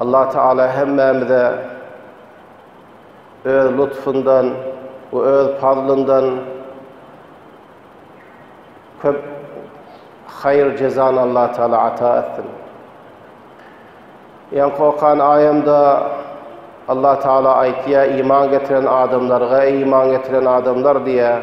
Allah Taala hemmämize öz lutfundan we öz fazlyndan köp haýyr jezany Allah Taala ata etsin. Ýan kokan aýamda Allah Taala aýtýa iman getiren adamlarga iman getiren adamlar diýýär.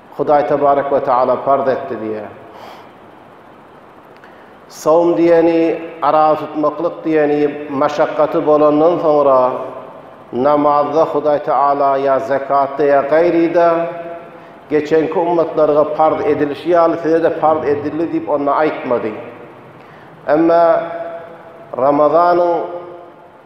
Hudaý tebarek we teala parz etdi diýýär. Sawm diýeni, arag tutmaklyk diýeni maşakgaty bolandan soňra, namazda Hudaý teala ýa zekatda ýa gaýryda, geçenki ummatlarga parz edilişi ýaly size-de parz edildi diýip onda aýtmady. Emma Ramazanyň.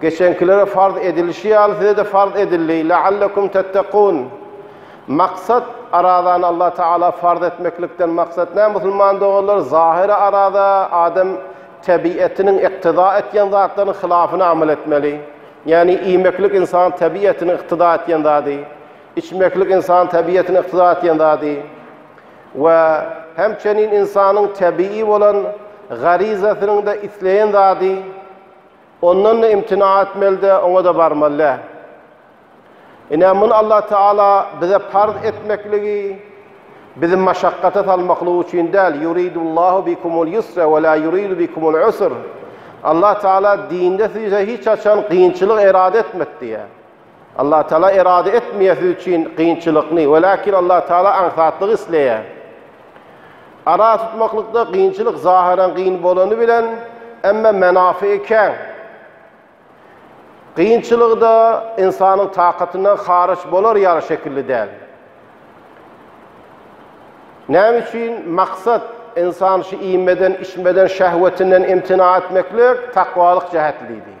Geçeňkilere farz edilişi ýaly size-de farz edildi, leallekum tettekûn. Maksat, arazany Allah Tagala farz etmeklikden maksat nä, musulman doganlar? Zahyry araza, adam tebiýetiniň yktyda etýän zatlarynyň hylafyna amal etmeli. Ýagny iýmeklik ynsanyň tebiýetiniň yktyda etýän zady, içmeklik ynsanyň tebiýetiniň yktyda etýän zady we hemçenin ynsanyň tebiýi bolan garizasynyň-da isleýän zady. Ondan-da imtina etmeli-de, oňa-da barmaly-dä. Ine, muny Allah Teala bize parz etmekligi, bizi maşakgata salmaklygy üçin däl, Yuridullahu bikumul yusra we la yuridu bikumul usr. Allah Teala dinde size hiç haçan gynçylyk erada etmedi diýýär. Allatagala erada etmeýäsi üçin kynçylykny, welakin Allatagala aňsatlygy isleýär. Ara tutmaklykda kynçylyk zahyran kyn bolany bilen, emma menafygy kän. Kynçylygy-da ynsanyň takatyndan haryç bolar ýaly şekilli däl. Näme üçin? Maksat, ynsan şu iýmeden, içmeden, şähwetinden imtina etmeklik, takwalyk jähetlidir.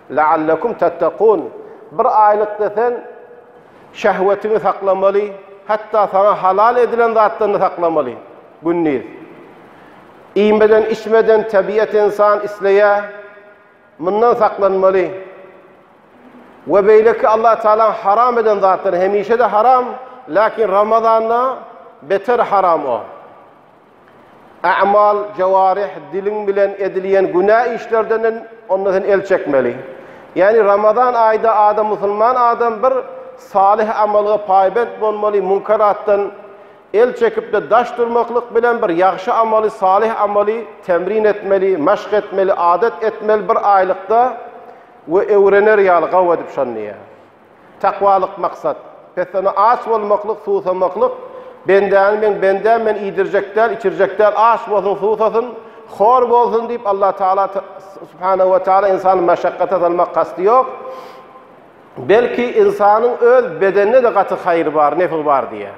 Leallekum tettekûn, Bir aýlykda sen şehwetiňi saklamaly, hatda saňa halal edilen zatlaryny saklamaly. Gündiz. Iýmeden, içmeden tebiat insan isleýär, mundan saklanmaly. We beýleki Allah Tagalaň haram eden zatlary hemişe-de haram, lakin Ramazanda beter haram o. A'mal, jewarih, diliň bilen edilýän günä işlerden onda sen el çekmeli. Ýagny Ramazan aýda adam musulman adam bir salyh amalga paýbent bolmaly, munkaratdan el çekipde daş durmaklyk bilen bir ýagşy amaly, salyh amaly temrin etmeli, maşk etmeli, adat etmeli bir aýlykda we öwrener ýaly gawy edip şony. Takwalyk maksat. Pessana aç bolmaklyk, susamaklyk, Bendäni meň bendäm men iýdirjek däl, içirjek däl, aç bolsun, susasyn, hor bolsun diýip Allah Tagala Subhanahu we Taala ynsany meşakkata salmak kasty ýok. Belki ynsanyň öz bedenine-de gaty haýry bar, nefi bar diýýär.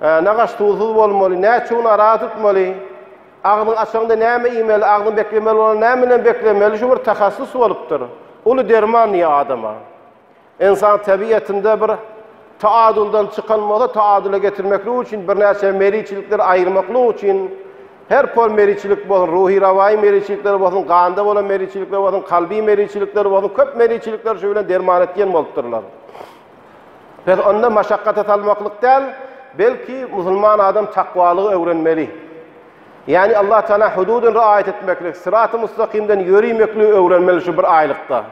Nagaş tuzsuz bolmaly, näçe gün ara tutmaly, agzyňy açaňda näme iýmeli, agzyňy beklemeli bolanda näme bilen beklemeli, şu bir tahassys bolupdyr. Uly derman diýýär adama. Ynsan tebiýetinde bir taaduldan çykan bolsa, taadula getirmeklik üçin birnäçe meriçilikleri aýyrmaklyk üçin her pol meriçilik bolsun, ruhy-rawaýy meriçilikler bolsun, ganda bolan meriçilikler bolsun, kalby meriçilikler bolsun, köp meriçilikler şu bilen derman et diýen bolupdyrlar. Biz onda maşakgata salmaklyk däl, belki musulman adam takwalygy öwrenmeli. Ýani Allah Taala hududyny riaýat etmeklik, syraty mustaqimden ýörimekligi öwrenmeli şu bir aýlykda.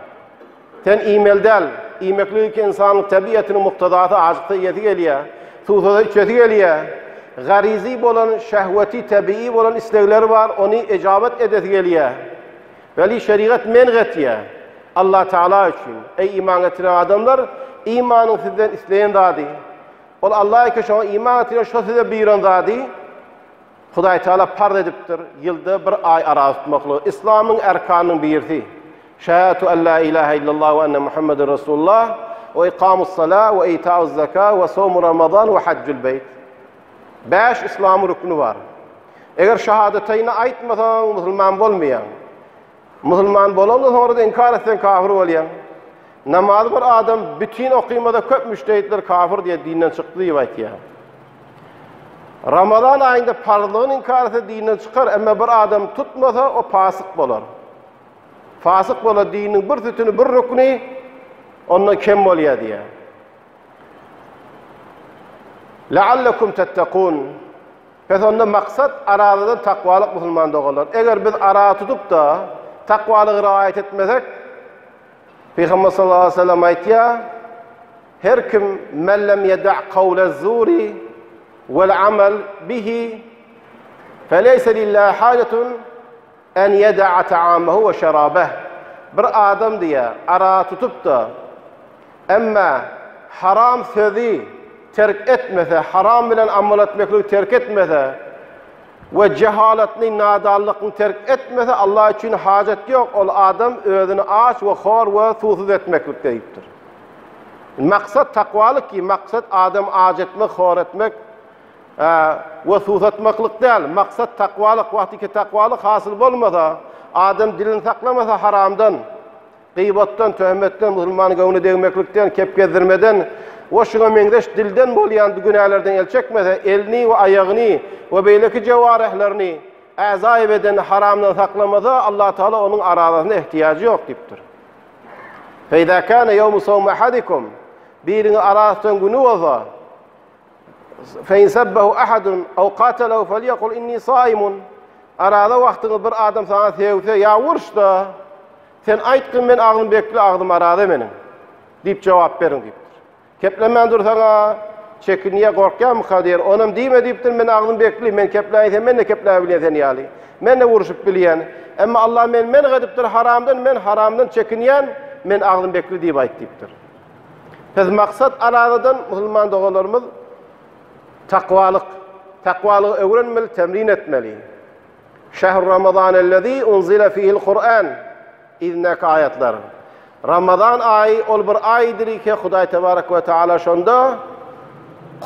Sen iýmeli däl, iýmeklik ki ynsanyň tebiýatynyň muktazasy ajyksa iýesi gelýär, suwsada içesi gelýär. Garizi bolan, şehweti, tebiýi bolan islegleri bar, ony ejabat edesi gelýär. Weli şerigat men getýär. Alla Tagala üçin, eý iman getiren adamlar, imanyň sizden isleýän zady, ol Alla eken şoňa iman getirýän şo size buýran zady, Hudaý Tagala parz edipdir, ýylda bir aý arag tutmaklygy, islamyň erkanynyň birisi, şehätu alla ilahe illallah we enne Muhammeden Resulullah, we ikamus sala, we itauz zaka, we somu ramazan, we hajjul beyt. Bäş yslam rükni bar. Eger şahadataýni aýtmasaň, musulman bolmaýaň. Musulman bolandan soňra-da inkar etseň, kafir bolýaň. Namazy bir adam bütin okymasa, köp müştehitler kafir diýýär, dinden çykdy diýip aýtýar. Ramazan aýynda parzlygyny inkar etse, dinden çykar, emma bir adam tutmasa, o pasyk bolar. Fasyk bolar, diniň bir sütüni, bir rükni ondan kem bolýar diýýär. Leallekum tettekun. Pes onda maksat arazadan takwalyk musulman doganlar. Eger biz araza tutup-da takwalygy raýat etmesek, Pygamber sallallahu aleyhi ve sellem aýtýar, Her kim men lem yeda' kawlez zuri vel amel bihi feleyse lillahi hajatun En ýeda'a ta'amahu we şerabeh, bir adam diýýär, ara tutup-da, emma haram sözi terk etmese, haram bilen amal etmekligi terk etmese we jehalatny, nadanlygyny terk etmese, Allah üçin hajat ýok, ol adam özüni aç we hor we suwsuz etmeklikde diýipdir. Maksat takwalyk ki, maksat adamy aç etmek, hor etmek, A we suwsatmaklyk däl, maksat takwalyk, wagty ki takwalyk hasyl bolmasa, adam dilini saklamasa haramdan, gyýbatdan, töhmetden, musulmanyň göwnüne degmeklikden, kep gezdirmeden we şuňa meňzeş dilden bolýan bu günälerden el çekmese, elini we aýagyny we beýleki jewarehlerini, äzaýy bedenini haramdan saklamasa, Allah Tagala onuň arazasyna ehtiýajy ýok diýipdir. Fe izâ kâne yevmu savmi ahadikum, biriňiz araztutan güni bolsa, Fe in sabbahu ahadun aw qatalahu falyakul inni saimun. Araza wagtyňyz bir adam sana sevse ya urşda sen ayt ki men agzym bekli agzym araza meniň diýip jogap beriň diýipdir. Keplemän dursaňa çekinýä gorkýamyka diýen onam diýme diýipdir men agzym bekli men kepläýin sen men de kepläp bilýän sen ýaly. Men de urşup bilýän. Emma Allah men men edipdir haramdan men haramdan çekinýän men agzym bekli diýip ayt diýipdir. Biz maksat aladadan musulman doganlarymyz takwalyk, takwalygy öwrenmeli, temrin etmeli. Şähr Ramazanellezî unzile fihil Kur'an idindäki aýatlar. Ramazan aýy ol bir aýdyr ki, Hudaý tebarek we taala şonda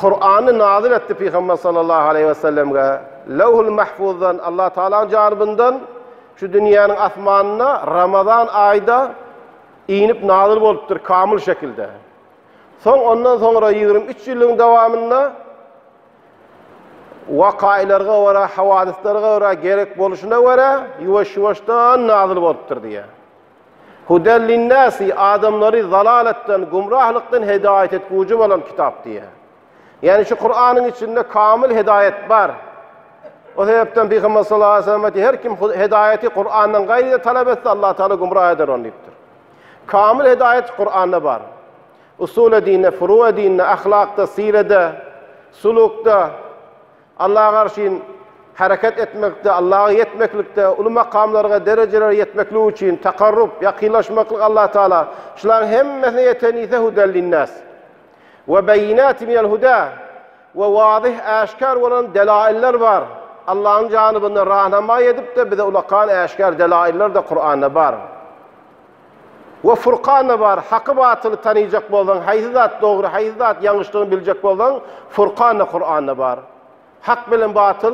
Kur'any nazyl etdi Pygamber sallallahu aleýhi we sellemge. Lewhul Mahfuzdan, Allah Taalanyň janybyndan şu dünýäniň asmanyna Ramazan aýda Inip nazyl bolupdyr kamyl şekilde. Soň ondan soňra ýigrimi üç ýyllygyň dowamynda wakaýlarga görä, hawadyslara görä, gerek boluşyna görä ýuwaş-ýuwaşdan nazyl bolupdyr diýýär. Huden linnasi, adamlary zalaletden, gumrahlykdan hedaýat etguji bolan kitap diýýär. Ýani şu Kuranyň içinde kamyl hedaýat bar. O sebäpden Pygamber sallallahu aleyhi ve sellem aýtdy, her kim hedaýaty Kur'andan gaýryda talap etse, Allah Taala gumra eder ony diýipdir. Kamyl hedaýat Kur'anda bar. Usul edinde, furu edinde, ahlakda, sirede, sulukda, Allah'a garşyn hereket etmekde, Allah'a yetmeklikde, uly makamlarga, derejelere yetmeklik üçin takarrub, yakynlaşmaklyk Allah Taala. Şularyň hemmesine yeten ise hudel linnas. We beýinati minel huda, we wazyh, äşgär bolan delailler bar. Allahyň janybyna rahnama edip-de bize ulakan äşgär delailler-de Kuranda bar. We Furkanda bar, haky-batyly tanyjak bolsaň, haýsy zat dogry, haýsy zat ýalňyşdygyny biljek bolsaň, Furkanda, Kuranda bar. Hak bilen batyl,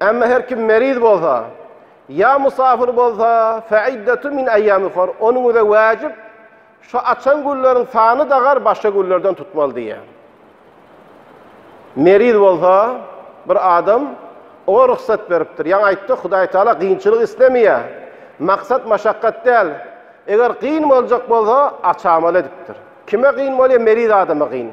Emma her kim meriz bolsa, ýa musafir bolsa, feiddetun min eýýamin uhar, onuň üzre wäjip, şu açan günleriň sany dagar başga günlerden tutmaly diýýär. Meriz bolsa, bir adam oňa rugsat beripdir. Ýaňy aýtdyk, Hudaý Taala kynçylyk islemeýär. Maksat maşakgat däl. Eger kyn boljak bolsa, aç amal edipdir. Kime kyn bolýar? Meriz adama kyn.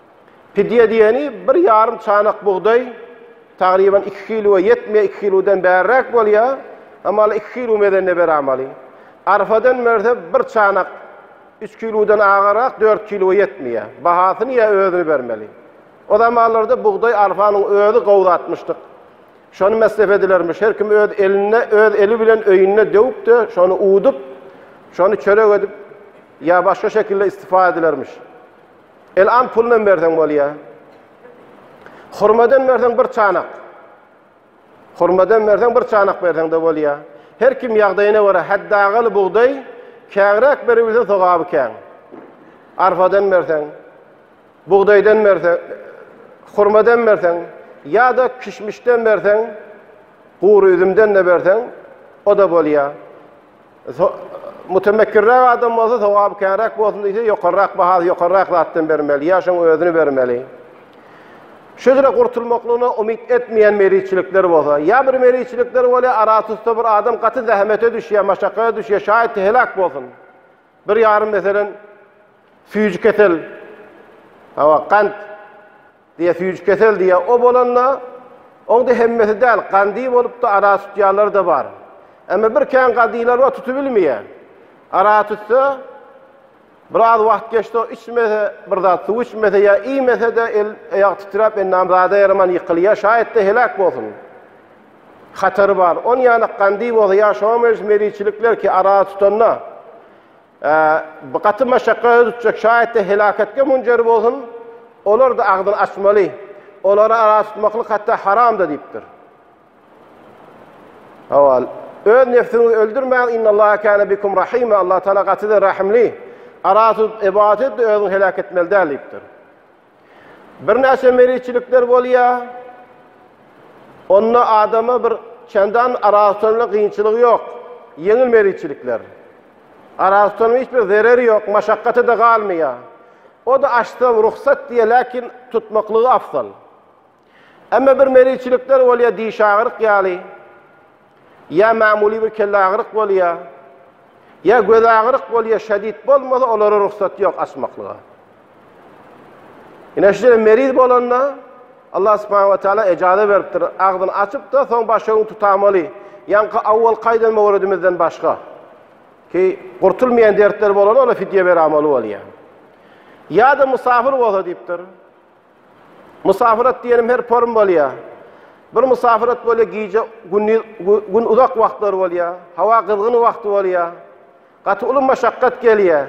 Pidýe diýeni bir ýarym çanak bugdaý, tagryban iki kiloa ýetmeýär, iki kilodan bärräk bolýar, hamala iki kilo mezende beramaly. Arpadan berse bir çanak, üç kilodan agarak, dört kiloa ýetmeýär. Bahasyny ýa özüni bermeli. O zamanlarda bugdaý arpanyň özi gowy zatmyşdyk. Şony mesrep edilermiş. Her kim öz elinde, öz eli bilen öýünde döwüp-de, şony uwdup, şony çörek edip ýa başga şekilde istifade edilermiş. El an pulunam berseň bolýa. Hurmadan berseň bir çanak. Hurmadan berseň bir çanak berseň de bolýa. Her kim ýagdaýyna görä häddagaly bugdaý kägräk beribilse sogaby käň. Arfadan berseň, bugdaýdan berseň, hurmadan berseň ýa-da kişmişden berseň, gury üzümden de berseň, o da bolýa. Mutemekkirräk adam bolsa, sogaby känräk bolsun diýse, ýokarrak bahasy, ýokarrak zatdan bermeli, ýa şoň özüni bermeli. Şüdre gurtulmaklygyna umyt etmeýän meriçilikler bolsa, ýa bir meriçilikler bolýar, aratusta bir adam gaty zähmete düşýär, maşakata düşýär, şaýat heläk bolsun. Bir ýarym meselen süýji kesel, hawa, gant, Diýe süýji kesel diýe o bolanda oňda hemmesi däl gandy bolupda ara tutýarlar da bar. Emme bir kän gadylar bar tutubilmeýe. Ara tutsa biraz wagt geçdi o içmese bir zat suw içmese ýa iýmese de el aýagy titräp endam zada ýaraman ýykylýa şaýatda heläk bolsun. Hatary bar. Onýanak gandy bolsa ýa şoňa meňzeş meriçilikler ki ara tutanda. Bi gaty meşakgata düşjek, şaýat-da helaketge munjer bolsun, olar-da agzyny açmaly, olary ara tutmaklyk hatda haram-da diýipdir. Hawa, öz nebsiňizi öldürmäň, innallâhe kâne bikum rahîmâ, Allatagala gaty-da rahimli, ara tutup ybadat et-de özüňi heläk etmeli däl diýipdir. Birnäçe meriçilikler bolýar. Onda adama bir çendan arasynda kynçylyk ýok. Ýeňil meriçilikler. Arasynda hiç bir zerer ýok, maşakgaty da galmaýar. O da açsaň rugsat diýýär, lakin tutmaklygy afzal. Emma bir meriçilikler bolýar, diş agyryk ýaly, ýa magmuly bir kelle agyryk bolýar, ýa göz agyryk bolýar, şedid bolmasa olara rugsat ýok açmaklyga. Ine şeýle meriz bolanda Allah subhanahu wa taala ejaza beripdir, agzyny açypda, soň başyny tutamaly. Ýaňky awwal kaýdan mowredimizden başga. Ki gurtulmaýan dertler bolanda ola fidýe beramaly bolýar. Ýa-da musafir bolsa diýipdir. Musafirat diýenim her form bolýar. Bir musafirat bolýar, gije gündiz gün uzak wagtlar bolýar, hawa gyzgyn wagty bolýar. Gaty uly maşakgat gelýär.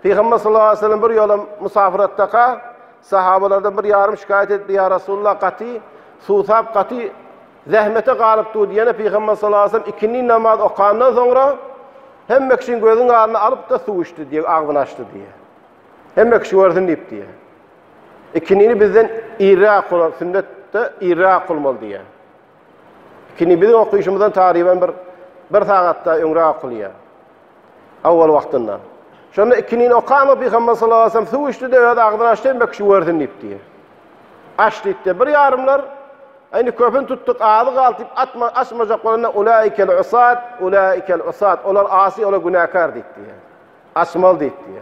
Pygamber sallallahu aleyhi ve sellem bir ýola musafiratdaka sahabalardan bir ýarym şikaýat etdi, ýa Rasulullah gaty suwsap, gaty zähmete galyp dur diýene Pygamber sallallahu aleyhi ve sellem ikindi namaz okandan soňra hemme kişiň gözüň aryny alyp-da suw içdi diýe, agzyny açdy diýe. Hemme kişi görsün diýip diýe. Ikindini bizden irräk bolar, sünnetde irräk bolmaly diýýär. Ikindi biziň okyşymyzdan taryban bir bir sagatda öňräk okulýar. Awal wagtynda. Şonda ikindini okama Pygamber sallallahu aleyhi ve sellem suw içdi de öz agzyny açdy hem kişi görsün diýip diýýär. Aç diýdi. Bir ýarymlar Indi köpün tutduk, azy galdy diýip atma açmajak bolanda ulaikel usat, ulaikel usat. Olar asy, olar günäkär diýdi. Açmaly diýdi.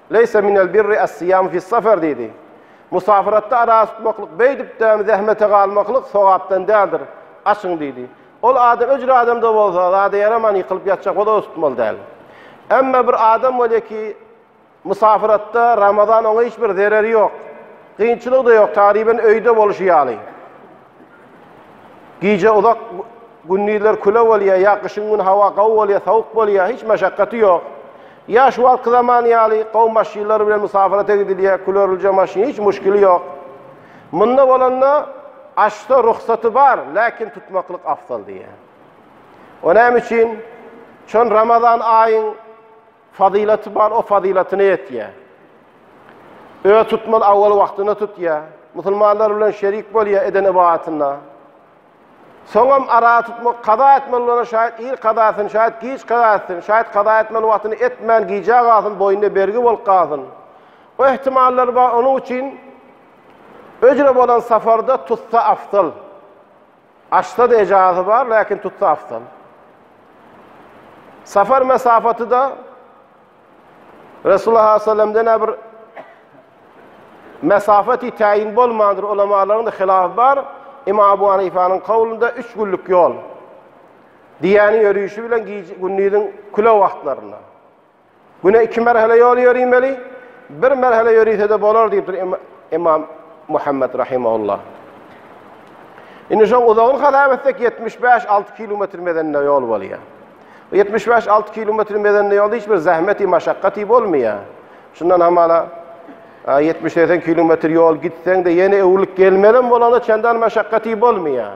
Leýse minel birri es-siýamu fis-safer diýdi. Musafiratda arassa tutmaklyk, beýdip däm, zähmete galmaklyk sogapdan däldir. Açyň diýdi. Ol adam öcür adam-da bolsa, zada ýaraman ýykylyp ýatjak bolsa-da tutmaly däl. Emma bir adam bolýar ki, musafiratda Ramazan oňa hiç bir zereri ýok. Kynçylygy-da ýok, tagryban öýde bolşy ýaly. Gije uzak, gündizler küle bolýar, ýa gyşyň güni hawa gawy bolýar, sowuk bolýar, hiç meşakgaty ýok. Ýa şu wagtky zaman ýaly gowy maşynlar bilen musapyrata gidilýär, külerlije maşyn, hiç muşkili ýok. Munda bolanda açsa ruhsaty bar, läkin tutmaklyk afzal diýýär. O näme üçin? Şon Ramazan aýyň Fazylaty bar o fazylatyny etýä. Öz tutmaz awal wagtyna tutýa. Musulmanlar bilen şerik bolýa eden ybadatynda. Soňam ara tutmak kaza etmeli bolana şaýat ir kaza etsin, şaýat giç kaza etsin, şaýat kaza etmeli wagtyny etmän gijä galsyn, boýnuna bergi bolup galsyn. O ihtimallar bar, onuň üçin öjre bolan safarda tutsa afzal. Açsa-da ejazy bar, läkin tutsa afzal. Safar mesafaty-da Resulullah sallallahu aleyhi ve sellemden-ä bir mesafeti täyin bolmandyr, ulamalaryň-da hilafy bar. Imam Abu Hanifanyň kawlynda üç günlük ýol. Diýýäni ýörüşi bilen gündüziň küle wagtlarynda. Güne iki merhele ýol ýöriýmeli, bir merhele ýörüse-de bolar diýipdir Ymam Muhammet rahimehullah. Indi şoň uzagyny hasap etsek 75-6 kilometr mezenine ýol bolýar. 75-6 kilometr mezenine ýolda hiç bir zähmeti, maşakgaty bolmaýar. Şundan hamala 70-80 kilometr ýol gitseň-de ýene öwrülip gelmelem bolanda çendan maşakgaty bolmaýar.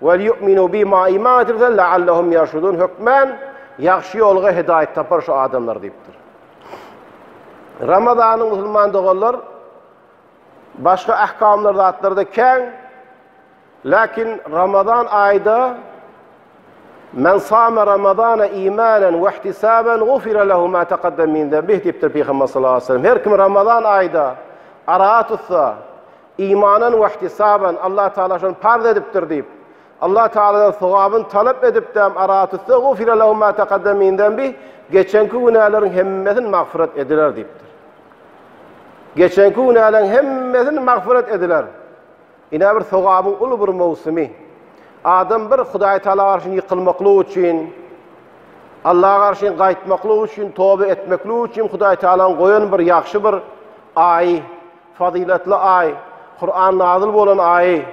Welýu'minu bima iman getirseler leallehum ýerşudun hökmän ýagşy ýolga hidaýat tapar şu adamlar diýipdir. Ramazanyň musulman doganlar başga ahkamlar zatlarda kän. Lakin Ramazan aýda Men sama Ramazana imanan we ihtisaban gufira lehu ma taqaddam min zembih diýipdir Pygamber sallallahu aleyhi ve sellem. Her kim Ramazan aýda ara tutsa, Imanan we ihtisaben, Allah Tagala şony parz edipdir diýip, Allah Tagaladan sogabyny talap edipdem ara tüstegufire lehum ma taqaddeme min zembih, geçenki günäleriň hemmesini magfyrat ediler diýipdir. Geçenki günäleriň hemmesini magfyrat ediler. Ine bir sogabyň uly bir möwsümi. Adam bir Hudaý Tagala garşy ýykylmaklyk üçin, Allaha garşy gaýtmaklyk üçin, toba etmeklik üçin Hudaý Tagalanyň goýan bir ýagşy bir aýy. Fazyletli aý, Kuran nazyl bolan aýy.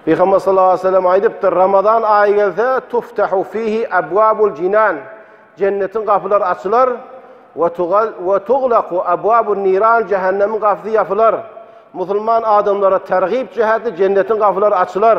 Pygamber sallallahu aleyhi ve sellem aýdypdyr, Ramazan aýy gelse, tuftahu fihi abwabul jinan, jennetiň gapylary açylar, we tugal we tuglaku abwabun niran, jehennemiň gapysy ýapylar. Musulman adamlara tergib jäheti jennetiň gapylary açylar.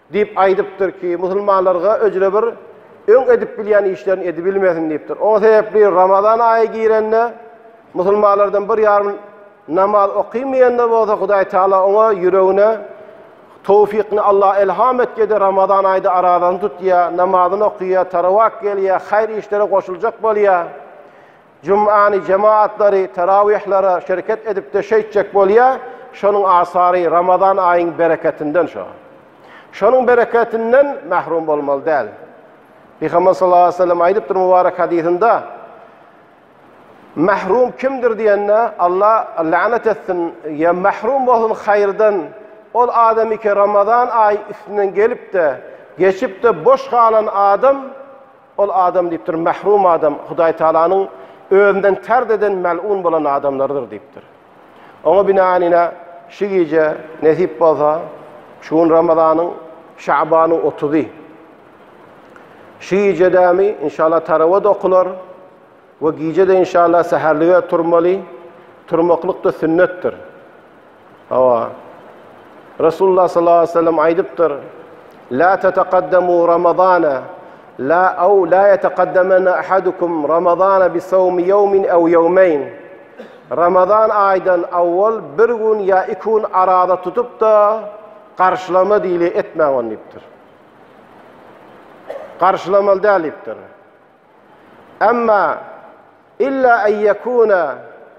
Diýip aýdypdyr ki, musulmanlarga öcre bir öň edip bilýän işlerini edibilmesin diýipdir. O sebäpli Ramazan aýy girende musulmanlardan bir ýarym namaz okamaýanda bolsa Hudaý Taala oňa ýüregine towfykyny Alla elham etýär-de Ramazan aýda arazany tutýar, namazyny okýar, tarawak gelýär, haýyr işlere goşuljak bolýar. Jumany jemaatlary terawihlere şereket edipde şeýtjek bolýa, şonuň asary Ramazan aýyň bereketinden şo. Şonuň bereketinden mahrum bolmaly däl. Pygamber sallallahu aleyhi ve sellem aýdypdyr mubarek hadysynda, Mahrum kimdir diýende, Allah lanet etsin, ya mahrum bolsun haýyrdan, ol adamy ki Ramazan aýy üstünden gelipde, geçipde boş galan adam, Ol adam diýipdir, Mährum adam Hudaý Tagalanyň Özünden tard eden mel'un bolan adamlarydyr diýipdir. Oňa binaýan ine, şu gije, nesip bolsa, şu gün Ramazanyň, Şabanyň otuzy. Şu gije dämi, inşallah tarawa-da okular. We gije-de inşallah säherlige turmaly. Turmaklyk-da sünnetdir. Hawa. Resulullah sallallahu aleyhi ve sellem aýdypdyr. La tataqaddamu Ramazana la aw la yataqaddamana ahadukum Ramazana bi sawmi yawmin aw yawmayn. Ramazan aýdan awwal bir gün ýa iki gün arada tutup-da garşylama diýli etmäň ony diýipdir. Garşylamaly däl diýipdir. Emma illa en yekuna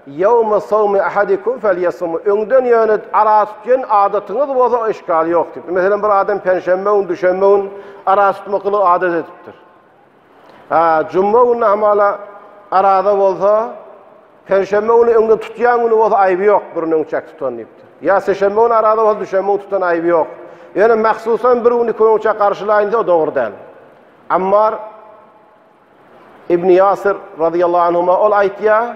yawma sawmi ahadikum falyasum. Öňden ýöne ara tutýan adatyňyz bolsa işgal ýok diýip. Meselem bir adam penşenbe gün, düşenbe gün ara tutmaklygy adat edipdir. Ha, juma güni hamala arada bolsa penşenbe güni öňden tutýan güni bolsa aýby ýok, birini öň çek tutan diýipdir. Ýa seşenbe güni arada bolsa düşenbe güni tutan aýby ýok. Ýöne mahsusan bir güni iki güni çek garşylaýyn diýse o dogry däl. Ammar ibn Ýasyr radiyallahu anhuma ol aýtýa,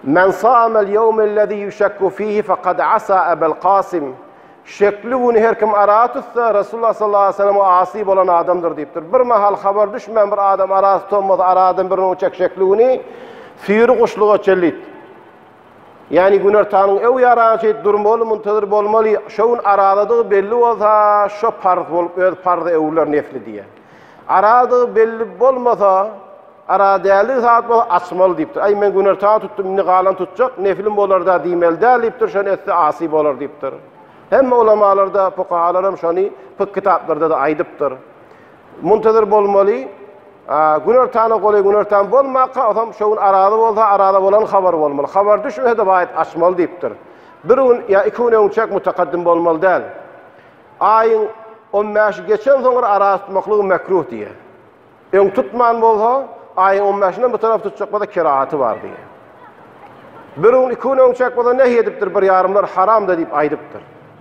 Men samel ýewmellezî ýuşakku fihi faqad asa Ebel Kasim. Şekli güni her kim ara tutsa, Resulullah sallallahu aleyhi ve sellem asi bolan adamdyr diýipdir. Bir mahal habar düşmän bir adam ara tutanmasa, aradan bir gün çek şekli güni süýri guşluga çellit. Ýani günortanyň öw ýarana çeit durmaly, muntazyr bolmaly, şo gün arazadygy belli bolsa, şo parz bolup öz parz öwler nefli diýýär. Arazadygy belli bolmasa, ara däldi sagat bolsa açmaly diýipdir. Aý men günorta tutdum, indi galan tutjak, neflim bolarda diýmeli däl diýipdir, şony etse asy bolar diýipdir. Hemme ulamalarda, pukahalaram şony pyk kitaplarda-da aýdypdyr. Muntazyr bolmaly. Günortana golaý günortan bolmaka, otam şu gün araza bolsa, araza bolan habar bolmaly. Habar düşmese-de waýt açmaly diýipdir. Bir gün ýa iki gün öňçäk mutakaddym bolmaly däl. Aýyň on bäşi geçen soňra araza tutmaklygy mekruh diýýär. Öň tutman bolsa, aýyň on bäşinden bu tarap tutjak bolsa kerahaty bar diýýär. Bir gün iki gün öňçäk bolsa nehy edipdir, bir ýarymlar haram-da diýip aýdypdyr.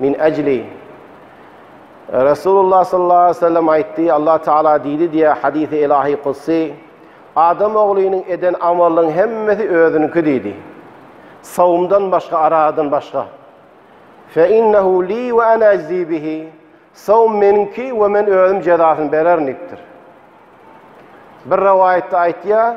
Min ajli Rasulullah sallallahu aleyhi ve sellem aytti Allah Taala diýdi diýä hadisi ilahi kutsi Adam oglynyň eden amalynyň hemmesi özüniňki diýdi. Sawumdan başga aradan başga. Fe innehu li ve ana ajzi bihi Sawum meniňki we men özüm jezasyny bererin diýipdir. Bir rivayette aytýa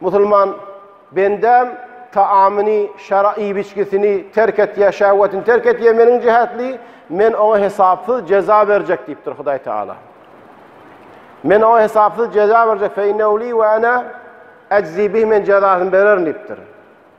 Musulman bendäm taamyny, şara iýip içgisini terk etýä, şähwetini terk etýä meniň jähetli, Men oňa hesapsyz jeza berjek diýipdir Hudaý Taala. Men oňa hesapsyz jeza berjek, fe innehu li we ana ejzi bih, men jezasyny bererin diýipdir.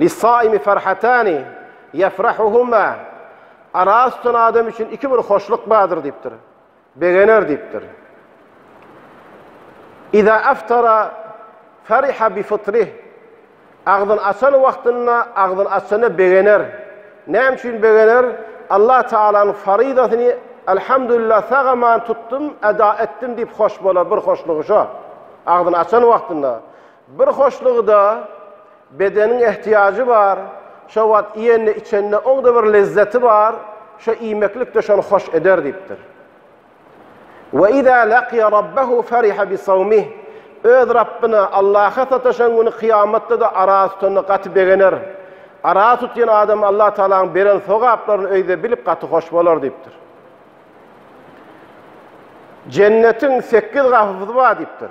Lissaimi ferhatani yefrahuhuma Araz tutan adam üçin iki bir hoşluk bardyr diýipdir. Begener diýipdir. Iza aftara fariha bi fitrih. Agzyny açan wagtynda, agzyny açanda begener. Näme üçin begener? Allah Taalanyň faryzasyny Elhamdülillah sagaman tutdum, eda etdim diýip hoş bolar, bir hoşlugy şo. Agzyny açan wagtynda. Bir hoşlugy-da, bedeniň ehtiýajy bar, şo wagt iýende-içende oňda bir lezzeti bar, şo iýmeklik-de şony hoş eder diýipdir. Ve iza laqiýa Rabbahu fariha bi sawmih, öz Rabbyna, Allaha sataşan güni kyýamatda-da ara tutanda gaty begener. Ara tutýan adam Allah Tagalaň beren sogaplaryny öýde bilip gaty hoş bolar diýipdir. Jennetiň sekiz gapysy bar diýipdir.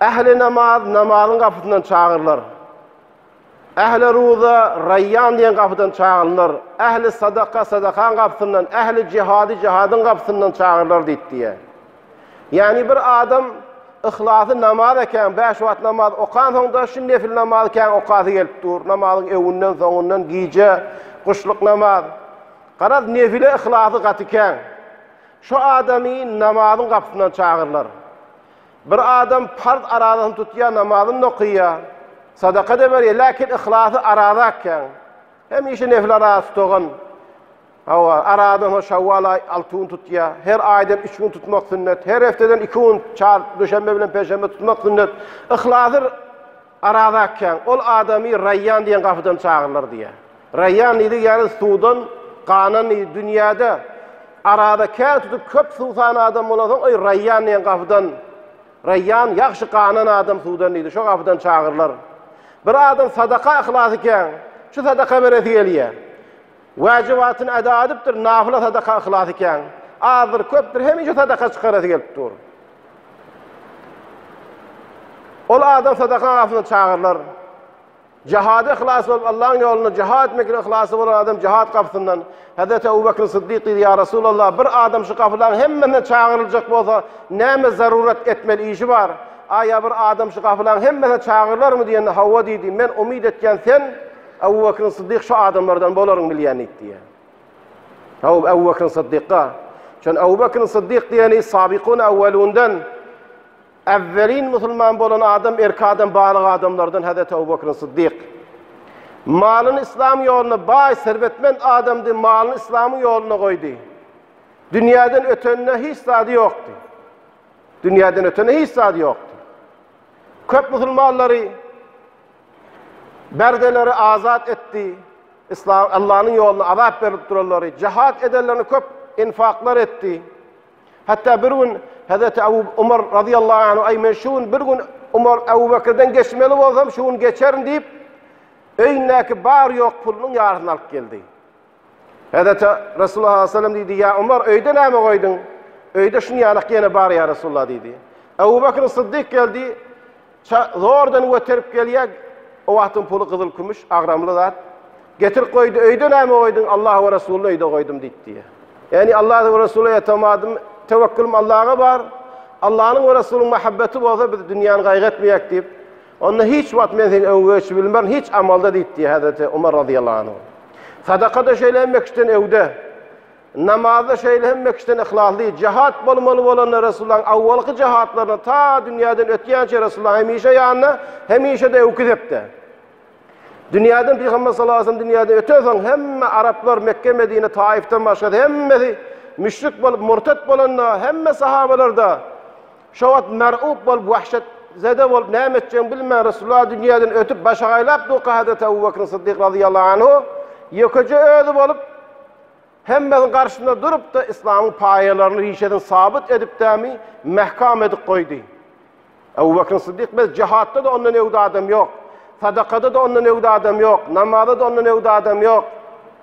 Ähli namaz namazyň gapysyndan çagyrylar. Ähli ruza Raýýan diýen gapydan çagyrylar. Ähli sadaka sadakaň gapysyndan, ähli jihady jihadyň gapysyndan çagyrylar diýip diýýär. Ýagny bir adam yhlasy namaz eken, bäş wagt namaz okansoň-da şu nefil namazy kän okasy gelip dur. Namazyň öwünden, soňundan, gije, guşluk namaz. Garaz, nefile yhlasy gaty kän. Şu adamy namazyň gapysyndan çagyrlar. Bir adam parz arazasyny tutýar, namazyny-da okýar, sadaka-da berýär, läkin yhlasy araza ekýän. Hemişe nefil arazasy tutugan. Hawa, arazadan şawwal aý alty gün tutýar. Her aýdan üç gün tutmak sünnet. Her hefteden iki gün, çar, duşenbe bilen penşenbe tutmak sünnet. Yhlasy Araz akýaň, ol adamy Raýýan diýen gapydan çagyrlar diýýär. Raýýan diýdigi ýaly suwdan ganan diýdi. Dünýäde Araza kän tutup köp suw san adam bolansoň, oý, Raýýan diýen gapydan, Raýýan, ýagşy ganan adam suwdan diýdi, şo gapydan çagyrlar. Bir adam sadaka yhlas ikýäň, şu sadaka beresi gelýär. Wäjibatyny eda edipdir, nafyla sadaka yhlas ikän. Azdyr, köpdür, hemişe sadaka çykarasy gelip dur. Ol adam sadaka gapysyna çagyrylar. Jihada yhlasy bolup, Allahyň ýolunda jihad etmekde yhlasy bolan adam jihad gapysyndan Hezret Ebu Bekr Siddik diýdi, ýa Resulallah, bir adam şu gapylaryň hemmesine çagyryljak bolsa, näme zarurat etmeli işi bar? Aýa bir adam şu gapylaryň hemmesine çagyrylarmy diýende, hawa diýdi, men umyt etýän sen Abu Bakr Siddik şu adamlardan bolaryň bilýän diýip diýýär. Abu Abu Bakr Siddikga. Şon Abu Bakr Siddik diýeni Sabikun awwalundan awwalin musulman bolan adam erki adam balyk adamlardan Hazreti Abu Bakr Siddik. Malyny islam ýoluna baý serbetmen adamdy, malyny islamyň ýoluna goýdy. Dünýäden ötenine hiç zady ýokdy. Dünýäden ötene hiç zady ýokdy. Köp musulmanlary Berdeleri azat etdi. İslam Allah'ın yoluna azap berip duranları, cihat edenlerini köp infaklar etti. Hatta bir gün Hazreti Abu Umar radıyallahu anh ay men şu gün bir gün Umar Abu Bakır'dan geçmeli olsam şu gün geçerim deyip öýündäki bar ýok pulunyň ýarysyny alyp geldi. Häzirçe Resulullah sallallahu aleyhi ve sellem diýdi, ýa Umar öýde näme goýduň? Öýde şuny ýalak ýene bar ýa Resulullah diýdi. Ebu Bekr Syddyk geldi, zordan göterip gelýär, o wagtyň puly gyzyl kümüş, agramly zat. Getirip goýdy, öýde näme goýduň? Allah we Resulullah öýde goýdum diýdi. Ýani Allah we Resulullah ýatamadym, tewekkilim Allaha bar. Allah'ın ve Resul'ün muhabbeti bolsa biz dünyanı gaýgy etmeyek diýip, Onda hiç wagt men seni öňe geçip bilmerin, hiç amalda diýip diýýär Hezreti Umar razyýallahu anh. Sadakada şeýle hemme kişiden öwde. Namazda şeýle hemme kişiden yhlasly. Jahat bolmaly bolanda Resulullahyň awwalky jahatlaryna ta dünýäden ötýänçä Resulullah hemişe ýanynda, hemişe-de öwki sepde. Dünýäden Pygamber sallallahu aleyhi ve sellem dünýäden ötensoň hemme araplar Mekge, Medine, Taifden başga hemmesi müşrik bolup murtet bolanda hemme sahabalarda Şo wagt mer'ub bolup, wähşetzede bolup, näme etjegini bilmän, Resulullah dünýäden ötüp, başy gaýlap durka Hazreti Ebu Bekr Syddyk razyýallahu anhu ýekeje özi bolup, hemmenin garşysynda durup-da, yslamyň paýalaryny, rişesini sabyt edipdämi, mähkam edip goýdy. Ebu Bekr Syddyk, Biz jihatda-da ondan öwdi adam ýok. Sadakada-da ondan öwdi adam ýok. Namazda-da ondan öwdi adam ýok.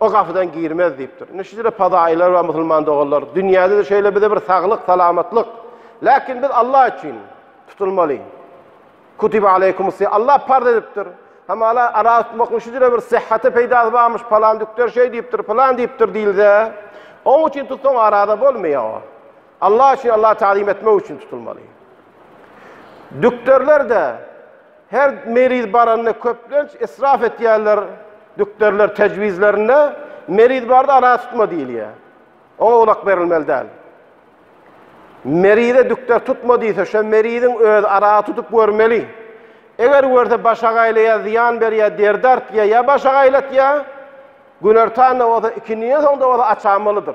O gapydan girmez diýipdir. Indi şüjre padaýylar we musulman doganlar, dünýäde-de şeýle bize bir saglyk, salamatlyk. Läkin biz Allah üçin tutulmaly. Kutiba aleykumus si Allah parz edipdir. Hamala ara tutmaklyň şüjre bir syhhata peýdasy barmyş, palan dükder şeý diýipdir, plan diýipdir diýilse, oň üçin tutsaň arada bolmaýar o. Allah üçin, Allahy tagzym etmek üçin tutulmaly. Dükderler-de her meriz baranda köplenç israf etýärler. Dükderler tejwizlerinde meriz barda ara tutma diýilýär. Oňa gulak berilmeli däl. Merize dükder tutma diýse, şo meriziň öz ara tutup görmeli. Eger görse baş agaýlaýar, zyýan berýär, derdi artýar ýa baş agaýlatýar, günertanda bolsa, ikindiden soň-da bolsa açamalydyr.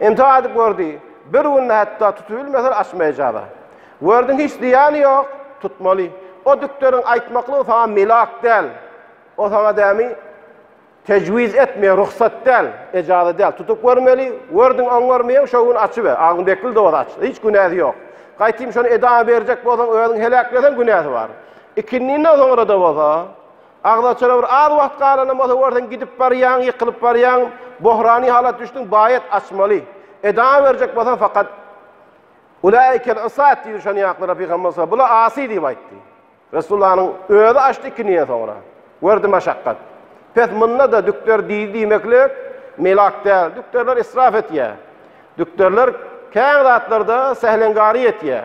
Entek aýdyp gördi. Bir günde hatda tutubilmese açmaýjaba. Gördüň hiç zyýany ýok, tutmaly. O dükderiň aýtmaklygy saňa milak däl. O saňa dämi tejwiz etmeýär, rugsat däl, ejaza däl. Tutup görmeli. Gördüň oňarmaýaň şo gün açyber. Agzyň bekli de bolsa aç. Hiç günäsi ýok. Gaýtym şony edama berjek bolsaň özüň heläkleseň günäsi bar. Ikindinden soňra-da bolsa Agzaçara bir az wagt galanam bolsa görseň gidip barýaň, ýykylyp barýaň, bohrany halata düşdüň, baýat açmaly. Eda berjek bolsaň fakat Ulaýikel usat diýdi şon ýaklara Pygamber sa, bula asy diýip aýtdy. Resullanyň özi açdy ikinien soňra. Gördi maşakgat. Pes munda da dükder diýdi diýmeklik melak däl. Dükderler israf etýä. Dükderler kän zatlarda sähleňgary etýä.